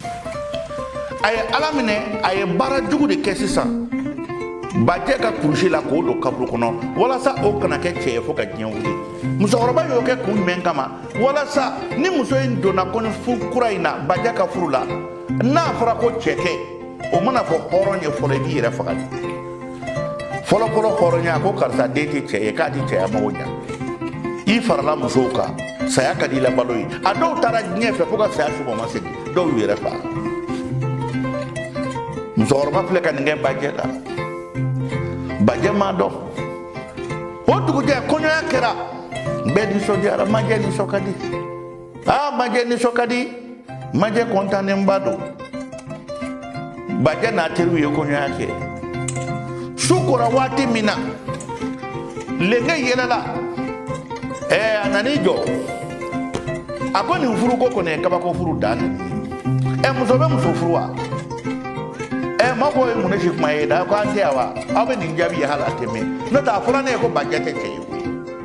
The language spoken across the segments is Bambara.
a ye ala minɛ a ye baara jugu de kɛ sisan bajɛ ka kurusi la k'o don kaburu kɔnɔ walasa o kana kɛ cɛ ye fo ka diɲɛ wuli musokɔrɔba y'o kɛ kun jumɛn kama walasa ni muso in donna kɔɲɔfuru kura in na bajɛ ka furu la n'a fɔra ko cɛ tɛ o mana fɔ hɔrɔn ye fɔlɔ i b'i yɛrɛ faga de fɔlɔfɔlɔ hɔrɔnya ko karisa den tɛ cɛ ye k'a tɛ cɛya mago ɲa i farala musow kan saya ka di i la balo ye a dɔw taara diɲɛ fɛ fo ka saya subɔ ma segin dɔw y'u yɛrɛ faga musokɔrɔba filɛ ka nin kɛ bajɛ la bajɛ m'a dɔn o dugujɛ kɔɲɔya kɛra bɛɛ nisɔndiyara majɛ nisɔn ka di aa majɛ nisɔn ka di majɛ kɔntannenba don bajɛ n'a teriw ye kɔɲɔya kɛ su kora waati min na lenge yɛlɛla ɛɛ a nan'i jɔ a ko nin furuko kɔni ye kabako furu dan de ɛ muso bɛ muso furu wa ɛ ma ko ye mun ne si kuma ye da ko an tɛ yan wa aw bɛ nin jaabi ye hali a tɛ mɛn n'o tɛ a fɔra ne ye ko bajɛ tɛ cɛ ye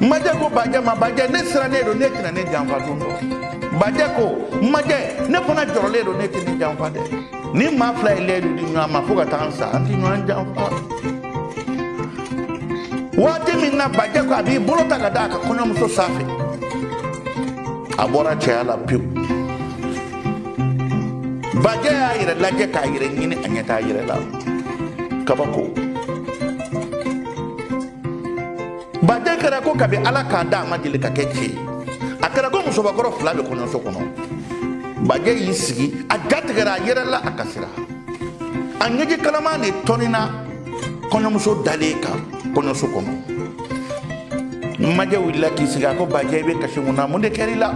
majɛ ko bajɛ ma bajɛ ne sirannen don e tɛna ne janfa don dɔ bajɛ ko majɛ ne fana jɔrɔlen don e tɛ ne janfa dɛ nin maa fila ye lɛyidu di ɲɔgɔn ma fo ka taa an sa an tɛ ɲɔgɔn janfa waati min na bajɛ ko a b'i bolo ta ka da a ka kɔɲɔmuso sanfɛ a bɔra cɛya la pewu bajɛ y'a yɛrɛ lajɛ k'a yɛrɛ ɲini a ɲɛ t'a yɛrɛ la kabako bajɛ kɛra ko kabi ala k'a da a ma deli ka kɛ cɛ ye a kɛra ko musobakɔrɔ fila bɛ kɔɲɔso kɔnɔ bajɛ y'i sigi a jatigɛra a yɛrɛ la a kasira a ɲɛji kalaman de tɔnina kɔɲɔmuso dalen kan kɔɲɔso kɔnɔ majɛ wulila k'i sigi a ko bajɛ i bɛ kasi mun na mun de kɛra i la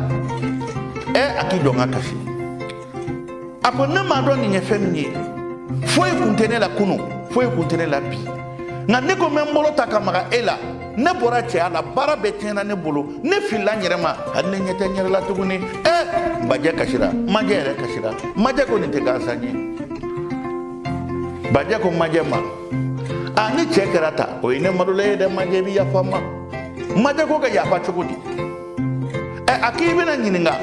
ɛ a k'i jɔ n ka kasi a ko ne m'a dɔn nin ye fɛn min ye foyi kun tɛ ne la kunu foyi kun tɛ ne la bi nka ne ko n bɛ n bolo ta ka maga e la ne bɔra cɛya la baara bɛɛ tiɲɛna ne bolo ne filila n yɛrɛ ma hali ne ɲɛ tɛ n yɛrɛ la tuguni ɛ bajɛ kasira majɛ yɛrɛ kasira majɛ ko nin tɛ gansan ye bajɛ ko majɛ ma a ni cɛ kɛra ta o ye ne malola ye dɛ majɛ i bɛ yafa n ma majɛ ko ka yafa cogo di ɛ a k'i bɛna ɲininka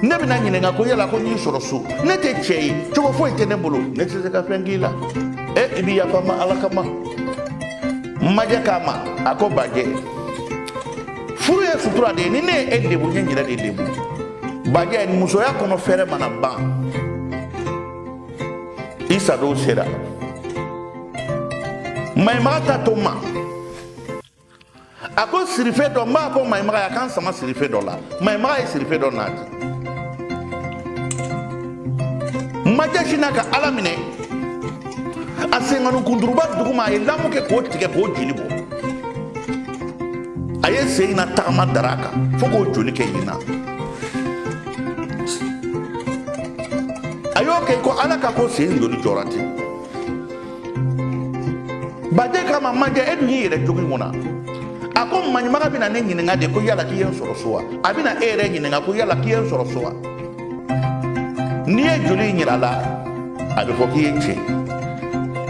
ne bɛna ɲininka ko yala ko n y'i sɔrɔ so ne tɛ cɛ ye cogo foyi tɛ ne bolo ne tɛ se ka fɛn k'i la ɛ i bɛ yafa n ma ala kama majɛ k'a ma a ko bajɛ furu ye sutura de ye ni ne ye e lebu n ye n yɛrɛ de lebu bajɛ musoya kɔnɔ fɛɛrɛ mana ban i sadon sera maɲuman ta to n ma a ko sirife dɔ n b'a fɔ maɲumaga ye a ka n sama sirife dɔ la maɲumaga ye sirife dɔ nati majɛ sinna ka ala minɛ a senkanu kunturuba duguma a ye lamu kɛ k'o tigɛ k'o joli bɔ a ye sen in na tagama dara kan fo k'o joli kɛ yen na a y'o kɛ ko ala ka ko sen joli jɔra ten bajɛ k'a ma majɛ e dun y'i yɛrɛ jogi mun na a ko maɲumaga bɛna ne ɲininka de ko yala k'i ye n sɔrɔ so wa a bɛna e yɛrɛ ɲininka ko yala k'i ye n sɔrɔ so wa n'i ye joli in yira a la a bɛ fɔ k'i ye cɛ ye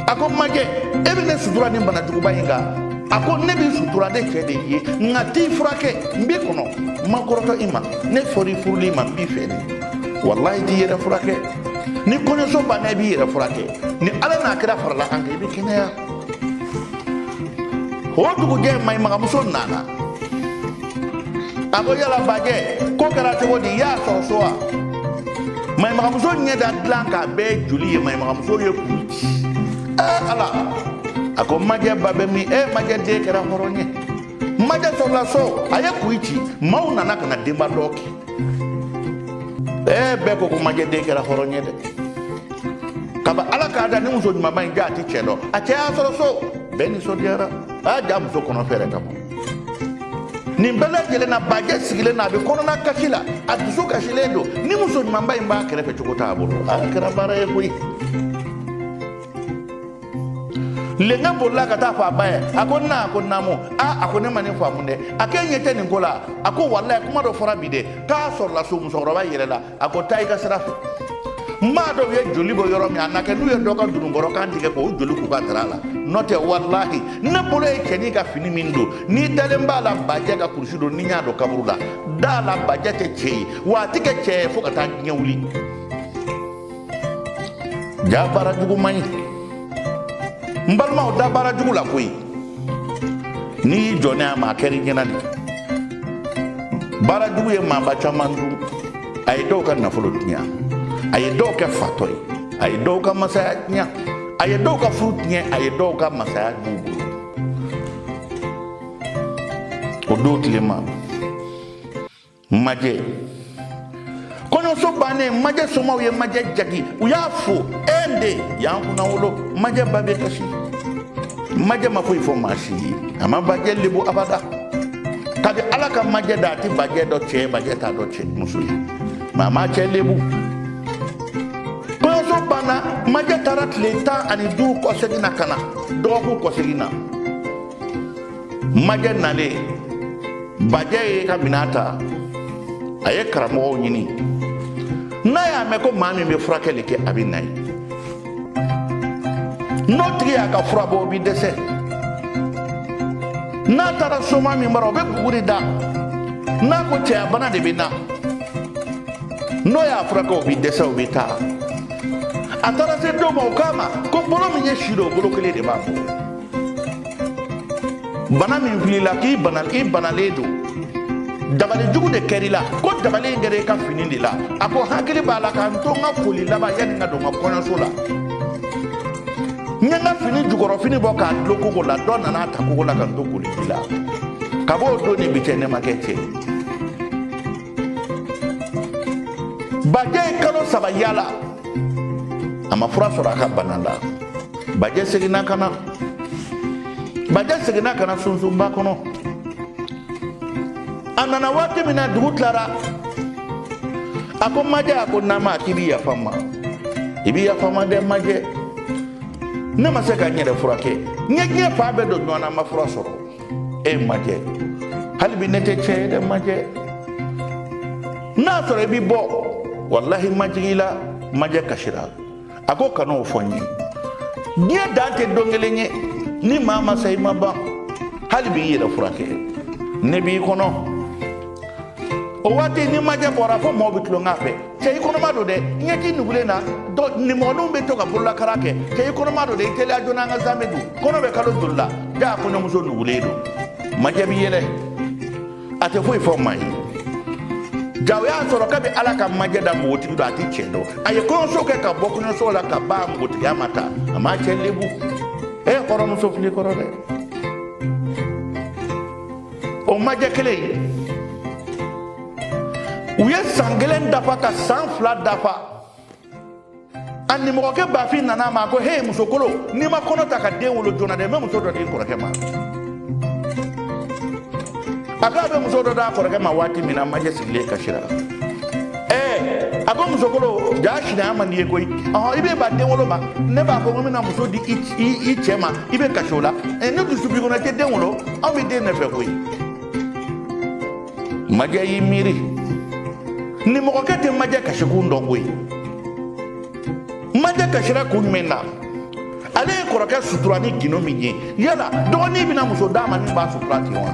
a ko majɛ e bɛ ne sutura nin bana juguba in kan a ko ne b'i sutura ne cɛ de ye nka t'i furakɛ n b'i kɔnɔ n ma kɔrɔtɔ i ma ne fɔra i furuli ma n b'i fɛ de walayi t'i yɛrɛ furakɛ ni kɔɲɔso banna i b'i yɛrɛ furakɛ ni ala n'a kira farala an kan i bɛ kɛnɛya o dugujɛ maɲimagamuso nana a ko yala bajɛ ko kɛra cogo di i y'a sɔrɔ so wa maɲimagamuso ɲɛ da dilan kan a bɛɛ joli ye maɲimagamuso ye kuyi ci ɛɛ ala a ko majɛ ba bɛ min e majɛ den kɛra hɔrɔn ye majɛ sɔrɔla so a ye kuyi ci maaw nana ka na denba dɔn kɛ ɛɛ bɛɛ ko ko majɛ den kɛra hɔrɔn ye dɛ kabi ala k'a da ni muso ɲumanba in ja a ti cɛ dɔn a cɛ y'a sɔrɔ so bɛɛ nisɔndiyara a ja muso kɔnɔ fɛɛrɛ ka bon nin bɛɛ lajɛlen na bajɛ sigilen na a bɛ kɔnɔna kasi la a dusu kasilen don ni muso ɲumanba in b'a kɛrɛfɛ cogo t'a bolo a kɛra baara ye koyi lenka bolila ka taa fɔ a ba ye a ko na a ko naamu a a ko ne ma nin faamu dɛ a k'e ɲɛ tɛ nin ko la a ko walayi kuma dɔ fɔra bi dɛ k'a sɔrɔla so musokɔrɔba yɛlɛla a ko taa i ka sira fɛ n m'a dɔn u ye joli bɔ yɔrɔ min a na kɛ n'u ye dɔ ka dununkɔrɔ kan tigɛ k'o joli k'u ka dara la n'o tɛ walahi ne bolo ye cɛnin ka fini min don n'i dalen b'a la bajɛ ka kurusi don ni n y'a don kaburu la da la bajɛ tɛ cɛ ye wa a tɛ kɛ cɛ ye fo ka taa diɲɛ wuli ja baara jugu man ɲi n balimaw da baara jugu la koyi n'i y'i jɔ n'a ma a kɛra i ɲɛna de baara jugu ye maaba caman dun a ye dɔw ka nafolo tiɲɛ a ye dɔw kɛ fatɔ ye a ye dɔw ka masaya tiɲɛ a ye dɔw ka furu tiɲɛ a ye dɔw ka masaya dun o don tilema majɛ kɔɲɔso bannen majɛ somaw ye majɛ jagi u y'a fo e de y'an kunnawolo majɛ ba bɛ kasi majɛ ma foyi fɔ maa si ye a ma bajɛ lebu abada kabi ala ka majɛ da a tɛ bajɛ dɔn cɛ bajɛ t'a dɔn cɛ muso ye maa ma cɛ lebu kɔɲɔso banna majɛ taara tile tan ani duuru kɔsegin na ka na dɔgɔkun kɔsegin na majɛ nalen bajɛ ye ka minɛn ta a ye karamɔgɔw ɲini n'a y'a mɛn ko maa min bɛ furakɛli kɛ a bɛ na ye n'o tigi y'a ka fura bɔ o bɛ dɛsɛ n'a taara soma min bara o bɛ buguri da n'a ko cɛya bana de bɛ na n'o y'a furakɛ o bɛ dɛsɛ o bɛ taa a taara se dɔ ma o k'a ma ko bolo min ye si don o bolo kelen de b'a bolo bana min fili la k'i banalen don dabali jugu de kɛr'i la ko dabali in kɛra i ka fini de la a ko hakili b'a la ka n to n ka koli laban yanni n ka don n ka kɔɲɔso la n ye n ka fini jukɔrɔfini bɔ k'a dulon kogo la dɔ nana a ta kogo la ka n to koliji la ka b'o don ni bi cɛ ne ma kɛ cɛ bajɛ ye kalo saba yala a ma fura sɔrɔ a ka bana la bajɛ seginna ka na bajɛ seginna ka na sunsunba kɔnɔ a nana waati min na dugu tilara a ko majɛ a ko nama k'i bi yafa n ma i bi yafa n ma dɛ majɛ ne ma se ka n yɛrɛ furakɛ n ye diɲɛ fan bɛɛ don ɲɔgɔn na n ma fura sɔrɔ e majɛ hali bi ne tɛ cɛ ye dɛ majɛ n'a sɔrɔ i bi bɔ walahi majigi la majɛ kasira a ko kan'o fɔ n ye diɲɛ dan tɛ don kelen ye ni maa ma sa i ma ban hali bi i yɛrɛ furakɛ ne b'i kɔnɔ o waati ni majɛ bɔra fo mɔgɔw bɛ tulonkɛ a fɛ cɛ i kɔnɔma don dɛ ɲɛji nugulen na nimɔgɔninw bɛ to ka bololakara kɛ cɛ i kɔnɔma don dɛ i teliya joona an ka zamɛ dun kɔnɔ bɛ kalo joli la da kɔɲɔmuso nugulen don majɛ bi yɛlɛ a tɛ foyi fɔ maa ye jaa o y'a sɔrɔ kabi ala ka majɛ da npogotigi don a ti cɛ dɔn a ye kɔɲɔso kɛ ka bɔ kɔɲɔso la ka ban npogotigiya ma ta a m'a cɛ lebu e kɔrɔmuso fili kɔrɔ dɛ o majɛ kelen ye u ye san kelen dafa ka san fila dafa a nimɔgɔkɛ bafin nana a ma ko he musokolo n'i ma kɔnɔ ta ka den wolo joona dɛ n bɛ muso dɔ di n kɔrɔkɛ ma a ko a bɛ muso dɔ d'a kɔrɔkɛ ma waati min na majɛ sigilen kasira ɛɛ a ko musokolo jaa sinaya man di i ye koyi ɔhɔn i bɛ ban den wolo ma ne b'a fɔ ko n bɛna muso di i cɛ ma i bɛ kasi o la ni dusu b'i kɔnɔ i tɛ den wolo anw bɛ den de fɛ koyi majɛ y'i miiri nimɔgɔkɛ tɛ majɛ kasikun dɔn koyi majɛ kasira kun jumɛn na ale ye kɔrɔkɛ sutura ni gindo min ye yala dɔgɔnin bɛna muso d'a ma min b'a sutura ten wa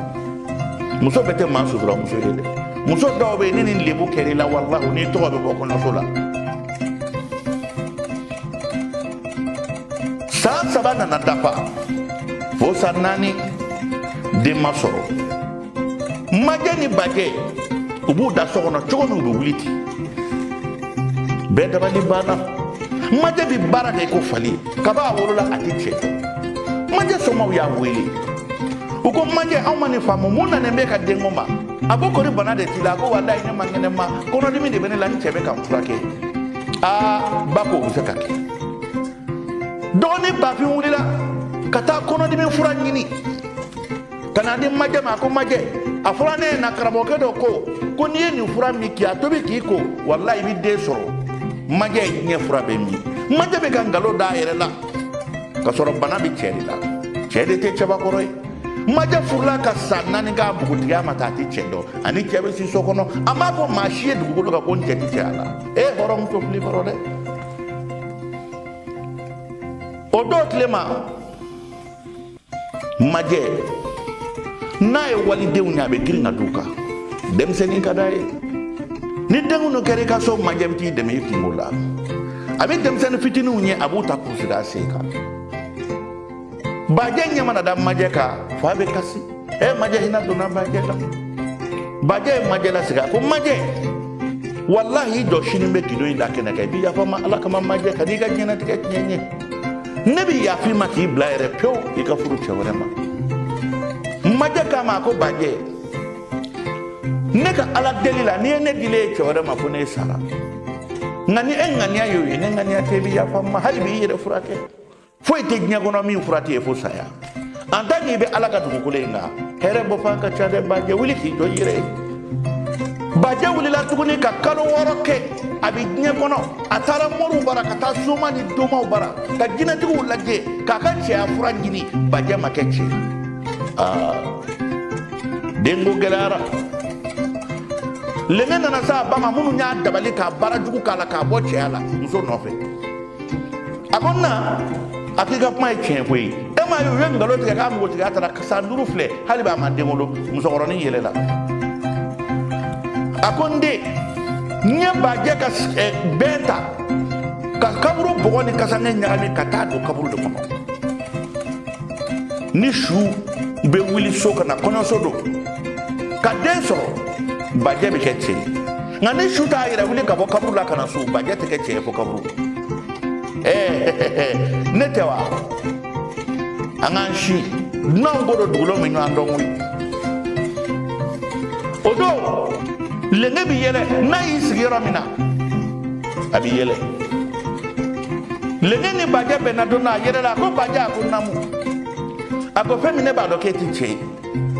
muso bɛɛ tɛ maa sutura muso ye dɛ muso dɔw bɛ yen ni nin lebu kɛra i la walahi n'i tɔgɔ bɛ bɔ kɔɲɔso la san saba nana dafa fo san naani den ma sɔrɔ majɛ ni bajɛ u b'u da so kɔnɔ cogo min u bɛ wuli ten bɛɛ dabali banna majɛ bɛ baara kɛ ko fali kaba a wolola a tɛ cɛ majɛ somaw y'a wele u ko majɛ anw ma nin faamu mun nanen bɛ ka denko ma a ko kori bana de t'i la a ko walayi ne man kɛnɛ ma kɔnɔdimi de bɛ ne la n cɛ bɛ ka n furakɛ aa ba ko o bɛ se ka kɛ dɔgɔnin bafin wulila ka taa kɔnɔdimi fura ɲini ka na di majɛ ma a ko majɛ a fɔra ne ɲɛ na karamɔgɔkɛ dɔ ko ko n'i ye nin fura min k'i a tobi k'i ko walayi i bɛ den sɔrɔ majɛ ye diɲɛ fura bɛɛ min majɛ bɛ ka nkalon d'a yɛrɛ la ka sɔrɔ bana bɛ cɛ de la cɛ de tɛ cɛbakɔrɔ ye majɛ furula ka san naani k'a bugutigiya ma ta a tɛ cɛ dɔn ani cɛ bɛ si so kɔnɔ a m'a fɔ maa si ye dugukolo kan ko n cɛ tɛ cɛya la e hɔrɔnmuso fili kɔrɔ dɛ o don tile ma majɛ n'a ye walidenw ɲɛ a bɛ girin ka d'u kan denmisɛnnin ka d'a ye ni denkundi kɛra i ka so majɛ bɛ t'i dɛmɛ i kunko la a bɛ denmisɛnnin fitininw ɲɛ a b'u ta k'u sigi a sen kan bajɛ ɲɛ mana da majɛ kan f'a bɛ kasi ɛ eh, majɛ hinɛ donna bajɛ la bajɛ ye majɛ lasigi a ko majɛ walahi i jɔ sini n bɛ gindo in da kɛnɛ kan i bɛ yafa n ma ala kama majɛ kan'i ka diɲɛnatigɛ tiɲɛ n ye ne bɛ yaf'i ma k'i bila yɛrɛ pewu i ka furu cɛ wɛrɛ ma majɛ k'a ma a ko bajɛ ne ka ala deli la n'i ye ne dilen ye cɛ wɛrɛ ma fo ne sara nka ni e ŋaniya y'o ye ne ŋaniya tɛ i bɛ yafa n ma hali bi i yɛrɛ furakɛ foyi tɛ diɲɛ kɔnɔ min fura tɛ ye fo saya en tant que i bɛ ala ka dugukolo in kan hɛrɛ bɔ fan ka ca dɛ bajɛ wuli k'i jɔ i yɛrɛ ye bajɛ wulila tuguni ka kalo wɔɔrɔ kɛ a bɛ diɲɛ kɔnɔ a taara moriw bara ka taa soma ni domaw bara ka jinɛtigiw lajɛ k'a ka cɛya fura ɲini bajɛ ma kɛ cɛ aa denko gɛlɛyara lɛmɛ nana s'a ba ma minnu y'a dabali k'a baara jugu k'a la k'a bɔ cɛya la muso nɔfɛ a ko n na a k'i ka kuma ye tiɲɛ koyi e m'a ye u ye nkalon tigɛ k'a npogotigiya taara san duuru filɛ hali b'a ma den wolo musokɔrɔnin yɛlɛla a ko n den n ye bajɛ ka bɛɛ ta ka kaburu bɔgɔ ni kasanke ɲagami ka taa don kaburu de kɔnɔ ni su bɛ wuli so ka na kɔɲɔso don ka den sɔrɔ bajɛ bɛ kɛ cɛ ye nka ni su t'a yɛrɛ wuli ka bɔ kaburu la ka na so bajɛ tɛ kɛ cɛ ye fo kaburu ɛɛ ne tɛ wa an k'an si dunanw ko don dugulen bi ɲɔgɔn dɔn koyi o don lenge bi yɛlɛ n'a y'i sigi yɔrɔ min na a bi yɛlɛ lenge ni bajɛ bɛnna don na a yɛlɛla a ko bajɛ a ko namu a ko fɛn min ne b'a dɔn k'e tɛ cɛ ye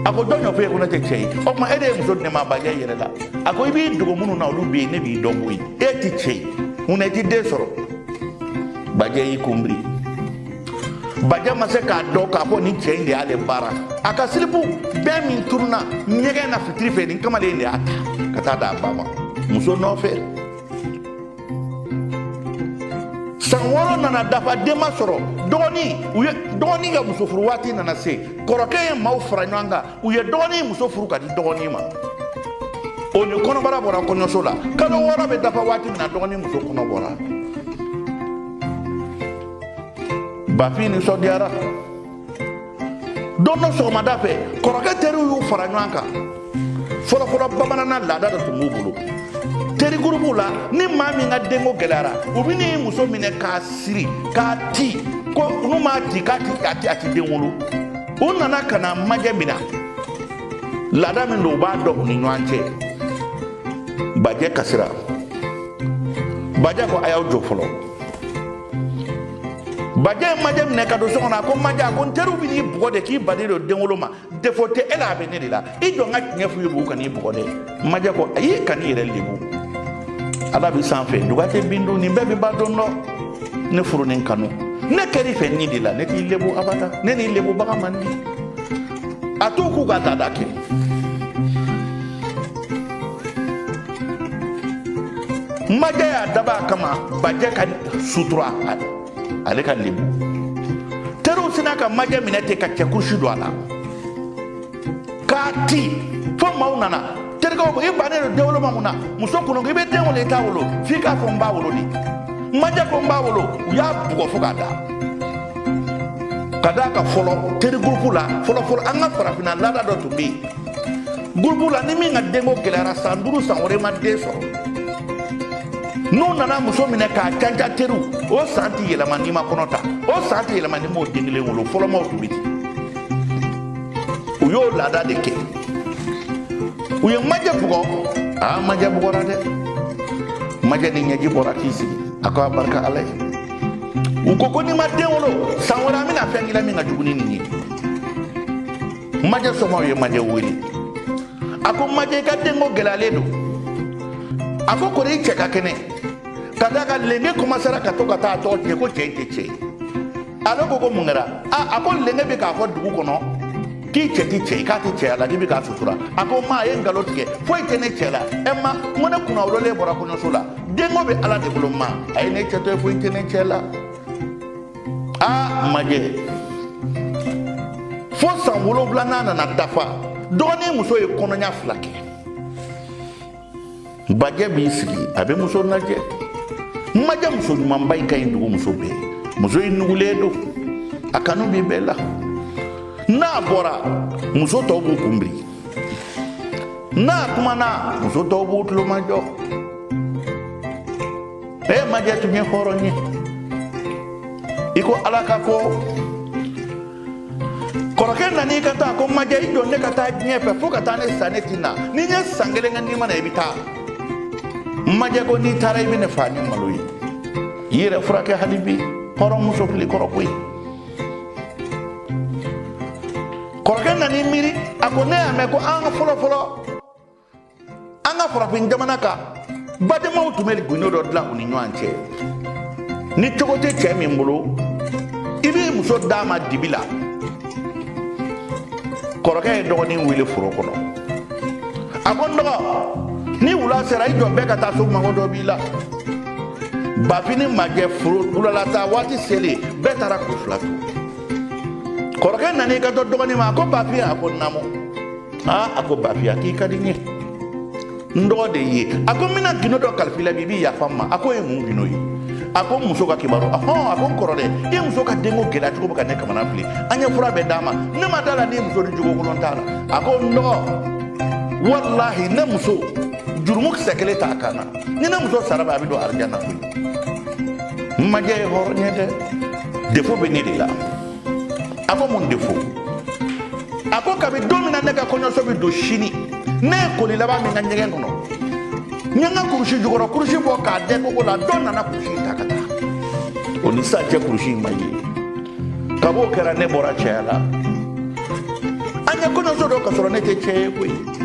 a ko jɔn y'o f'e ye ko ne tɛ cɛ ye o tuma e de ye muso di ne ma bajɛ yɛlɛla a ko i b'i dogo minnu na olu bɛ yen ne b'i dɔn koyi e tɛ cɛ ye mun na i tɛ den sɔrɔ bajɛ y'i kunbiri bajɛ ma se k'a dɔn k'a fɔ nin cɛ in de y'ale baara a ka silipu bɛɛ min tununna ɲɛgɛn na fitiri fɛ nin kamalen in de y'a ta ka taa d'a ba ma muso nɔfɛ san wɔɔrɔ nana dafa den ma sɔrɔ dɔgɔnin u ye dɔgɔnin ka muso furu waati nana se kɔrɔkɛ ye maaw fara ɲɔgɔn kan u ye dɔgɔnin muso furu ka di dɔgɔnin ma o ni kɔnɔbara bɔra kɔɲɔso la kalo wɔɔrɔ bɛ dafa waati min na dɔgɔnin muso kɔnɔ bɔra bafin nisɔndiyara don dɔ sɔgɔmada fɛ kɔrɔkɛ teriw y'u fara ɲɔgɔn kan fɔlɔfɔlɔ bamananna laada dɔ tun b'u bolo teri gurupuw la ni maa min ka denko gɛlɛyara u bɛ n'i muso minɛ k'a siri k'a ti ko n'u m'a ti k'a ti den wolo u nana ka na majɛ minɛ laada min don u b'a dɔn u ni ɲɔgɔn cɛ bajɛ kasira bajɛ ko a y'aw jɔ fɔlɔ bajɛ ye majɛ minɛ ka don so kɔnɔ a ko majɛ a ko n teriw bɛ n'i bugɔ de k'i bannen don denwolo ma defo tɛ e la a bɛ ne de la i jɔ n ka tiɲɛ f'u ye bi k'u kan'i bugɔ dɛ majɛ ko ayi kan'i yɛrɛ lebu ala bɛ sanfɛ duga tɛ bin dun nin bɛɛ bɛ ban don dɔ ne furu ni kanu ne kɛr'i fɛ ni de la ne t'i lebu abada ne n'i lebu baga man di a t'u k'u ka laada kɛ majɛ y'a dab'a kama bajɛ ka sutura ale ka lebu teriw sina ka majɛ minɛ ten ka cɛ kurusi don a la k'a ti fo maaw nana terikɛw ko i bannen don denwolo ma mun na muso kolon ko i bɛ den wolo i t'a wolo f'i k'a fɔ n b'a wolo de majɛ ko n b'a wolo u y'a bugɔ fo k'a da ka d'a kan fɔlɔ terigurupu la fɔlɔfɔlɔ an ka farafinna laada dɔ tun bɛ yen gurupu la ni min ka denko gɛlɛyara san duuru san wɔɔrɔ ma den sɔrɔ n'u nana muso minɛ k'a canca teriw o san tɛ yɛlɛma n'i ma kɔnɔ ta o san tɛ yɛlɛma n'i m'o den kelen wolo fɔlɔ maaw tun bɛ ten u y'o laada de kɛ u ye majɛ bugɔ aa majɛ bugɔra dɛ majɛ ni ɲɛji bɔra k'i sigi a ko a barika ala ye u ko ko n'i ma den wolo san wɛrɛ an bɛna fɛn k'i la min ka jugu ni nin ye majɛ somɔgɔw ye majɛ wele a ko majɛ i ka denko gɛlɛyalen don a ko kori i cɛ ka kɛnɛ ka d'a kan lenge kɔmasera ka to ka taa a tɔgɔ tiɲɛ ko cɛ in tɛ cɛ ye ale ko ko mun kɛra a a ko lenge bɛ k'a fɔ dugu kɔnɔ k'i cɛ ti cɛ ye k'a tɛ cɛya la k'i bɛ k'a sutura a ko ma a ye nkalon tigɛ foyi tɛ ne cɛ la ɛ ma n ko ne kunnawololen bɔra kɔɲɔso la denko bɛ ala de bolo ma a ye ne cɛ to yen foyi tɛ ne cɛ la aa majɛ fo san wolonwulanan nana dafa dɔgɔnin muso ye kɔnɔɲa fila kɛ bajɛ b'i sigi a bɛ muso lajɛ majɛ muso ɲumanba in ka ɲi dugu muso bɛɛ muso in nugulen don a kanu bɛ bɛɛ la n'a bɔra muso tɔw b'u kunbiri n'a kumana muso tɔw b'u tulomajɔ ee majɛ tun ye hɔrɔn ye i ko ala ka ko kɔrɔkɛ nan'i kanto ko majɛ i jɔ ne ka taa diɲɛ fɛ fo ka taa ne sa ne ti na ni n ye san kelen kɛ ni n ma na i bɛ taa majɛ ko n'i taara i bɛ ne faa ni malo ye i yɛrɛ furakɛ hali bi hɔrɔnmuso fil'i kɔrɔ koyi kɔrɔkɛ nan'i miiri a ko ne y'a mɛn ko an ka fɔlɔ fɔlɔ an ka farafin jamana kan badenmaw tun bɛ gundo dɔ dilan u ni ɲɔgɔn cɛ ni cogo tɛ cɛ min bolo i b'i muso d'a ma dibi la kɔrɔkɛ ye dɔgɔnin wele foro kɔnɔ a ko n dɔgɔ ni wula sera i jɔ bɛɛ ka taa so mago dɔ b'i la bafin ni majɛ foro wulalata waati selen bɛɛ taara k'u fila to kɔrɔkɛ nan'i kanto dɔgɔnin ma a ko bafin a ko naamu aa a ko bafin a k'i ka di n ye n dɔgɔ de ye a ko n bɛna gindo dɔ kalif'i la bi i b'i yafa n ma a k'o ye mun gindo ye a ko muso ka kibaru ahɔn a ko n kɔrɔ dɛ i muso ka denko gɛlɛya cogo bɛ ka ne kamana fili an ye fura bɛɛ d'a ma ne ma d'a la ni muso nin jogo kolon t'a la a ko n dɔgɔ walahi ne muso jurumu kisɛ kelen t'a kan na ni ne muso sara bi a bɛ don arijana koyi majɛ ye hɔrɔn ye dɛ defo bɛ ne de la a ko mun de fo a ko kabi don min na ne ka kɔɲɔso bɛ don sini ne ye koli laban min kɛ ɲɛgɛn kɔnɔ n ye n ka kurusi jukɔrɔ kurusi bɔ k'a dɛn kogo la dɔ nana kurusi in ta ka taa o ni sisan cɛ kurusi in ma ye kab'o kɛra ne bɔra cɛya la an ye kɔɲɔso don ka sɔrɔ ne tɛ cɛ ye koyi